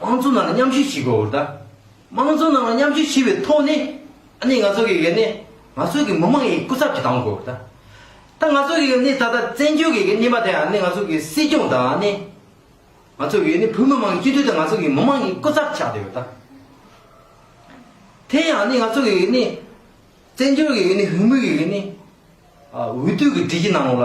དམངས་གཙོ་ནང་ལ་མཉམ་ཞུགས་བྱེད་དགོས་བར་ད། དམངས་གཙོ་ནང་ལ་མཉམ་ཞུགས་བྱས་པའི་ཐོག་ནས། ཨ་ནི་ང་ཚོ་གིས་ཡོད་ནས་ང་ཚོ་གི་མི་དམངས་ཡི་སྐུ་ཚབ་ཀྱི་དང་དགོས་བར་ད། ད་ང་ཚོ་གིས་ཡོད་ནས་ད་ད་བཙན་བྱོལ་གི་གནས་པ་དེ་ཨ་ནི་ང་ཚོ་གི་སྲིད་སྐྱོང་ད་ཨ་ནི། ང་ཚོ་གིས་ཡོད་ནས་བོད་མི་དམངས་ཀྱི་སྤྱི་འཐུས་ད་ང་ཚོ་གི་མི་དམངས་ཡི་སྐུ་ཚབ་ཆགས་བསྡད་བར་ད། དེ་ཡང་ཨ་ནི་ང་ཚོ་གིས་ཡོད་ནས། བཙན་བྱོལ་གི་ཡོད་ནས་བོད་མི་གིས་ཡོད་ནས། འོས་བསྡུ་གི་སྒྲིག་གཞི་ནང་ལ།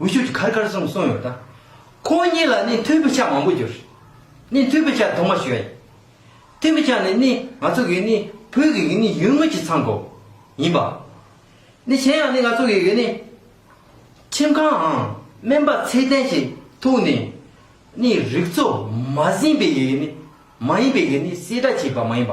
འུ་ཤུད་ཀྱི་ཁར་ཁར་གསུངས་གསུངས་ཡོད་ད། ཁོང་གཉིས་ལ་ནི་མཐུན་པའི་ཆ་མང་པོ་གྱུར། ནི་མཐུན་པའི་ཆ་དུ་མ་ཞིག་ཡོད། མཐུན་པའི་ཆ་ནི་ནི་ང་ཚོ་གི་ནི་བོད་ཀྱི་གི་ནི་ཡུལ་དངོས་ཀྱི་མཚང་གོ། ཡིན་པ། ནི་གཞན་ཡང་ནི་ང་ཚོ་གི་གི་ནི། ཁྱིམ་ཁང་འམ་སྨན་པ་ཚད་ལྡན་ཞིག་ཐུག་ནས། ནི་རིག་གཙོ་མ་ཟིན་པའི་གི་གི་ནི་མ་ཡིན་པའི་གི་ནི་བསྲེས་སྒྲ་བྱས་པ་མ་ཡིན་པ།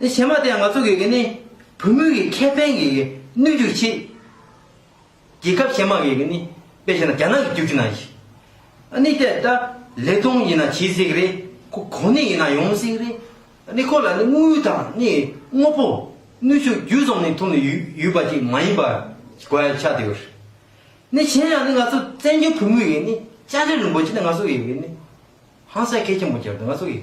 དེ་བྱེ་མ་དེ་ང་ཚོ་གི་གི་ནི་བུ་མོའི་གི་ཁེ་ཕན་གི་གི་གནོད་རྒྱུ་གི་ཆེད། རྒྱལ་ཁབ་བྱེ་མ་གི་གི་ནི་པེ་བྱེ་ན་རྒྱ་ནག་གི་རྒྱུག་རྒྱུ་ན་ཡི། ཨ་ནི་དེ་ད་ལེ་ཐོང་ཡི་ན་གྱིས་ཟིག་རེ་ཁོ་གོ་ནི་ཡི་ན་ཡོང་ཟིག་རེ། ཨ་ནི་ཁོ་ལ་ནི་དངུལ་དང་ནི་དངོ་པོ་ནུས་ཤུགས་རྒྱུ་ཙོམ་ནི་ཐུག་ནི་ཡུ་ཡུ་པ་ཅིག་མ་ཡིན་པ་གོ་ཡ་ཆག་དེ་གོ། ནི་གཞན་ཡང་ནི་ང་ཚོ་བཙན་བྱོལ་བུ་མོའི་གི་ནི་ལྕགས་རི་རིན་པོ་ཆེ་ནི་ང་ཚོ་གི་གི་ནི་ཧང་སངས་ཁེ་ཆེན་པོ་གྱར་དུ་ང་ཚོ་གི།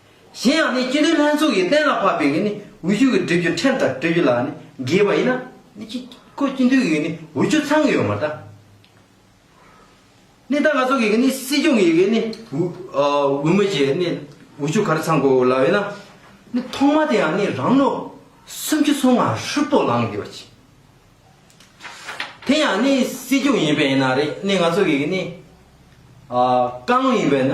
གཞན་ཡང་ནི་སྤྱི་དོན་ལྷན་ཚོགས་ཀྱིས་གཏན་ལ་ཕབ་པའི་ནི་འོས་ཆོས་ཀྱི་འབྲེལ་རྒྱུ་ཕྲན་དང་སྤྲོད་རྒྱུ་ལ་ནི་འགལ་བ་ཡིན་ན། ནི་ཅི། ཁོ་སྤྱི་འཐུས་ཀྱི་ནི་འོས་ཆོས་ཚང་གི་ཡོད་མ་ད། ནི་ད་ང་ཚོ་གི་ནི་སྲིད་སྐྱོང་གི་ནི་འོས་མི་ཆེ་ནི་འོས་ཆོས་ག་རེ་ཚང་དགོས་ལ་ཡོད་ན། ནི་ཐོག་མ་དེ་ཡང་ནི་རང་ནོ། སུམ་ཅུ་སོ་ང་ཧྲུལ་པོ་ལང་དགོས་པ་ཆེ། དེ་ཡང་ནི་སྲིད་སྐྱོང་ཡིན་པས་ན་རེད་ནི་ང་ཚོ་གི་ནི། ཀང་ཡིན་པས་ན།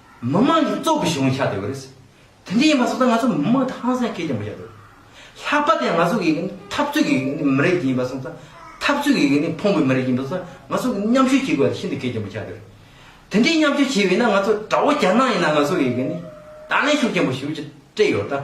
མི་དམངས་ཀྱི་གཙོ་གི་གཞུང་ཡིན་ཤག་དེ་གོ་རེད། དེ་འདྲ་ཡིན་པ་སོགས་ང་ཚོ་མི་དམངས་ཧང་སངས་སྐད་ཀྱང་མི་བཤད་དོ། ལྷག་པ་དེ་ང་ཚོ་གི་འཐབ་རྩོད་ཀྱི་མི་རིགས་ཡིན་པ་སོགས་ཚོ་འཐབ་རྩོད་ཀྱི་ཕོངས་པའི་མི་རིགས་ཡིན་པ་སོགས་ང་ཚོ་མཉམ་ཞུགས་བྱེད་དགོས་པ་དེ་ཤིན་ཏུ་སྐད་ཀྱང་མི་བཤད་དོ། དེ་འདྲའི་མཉམ་ཞུགས་བྱེད་འོས་ན་ང་ཚོ་དགྲ་བོ་རྒྱ་ནག་ཡིན་ན་ང་ཚོ་གི་ནི་ད་ལན་ཤུགས་ཆེན་པོ་ཞུགས་རྒྱུ་སྤྲད་ཡོད་དཱ།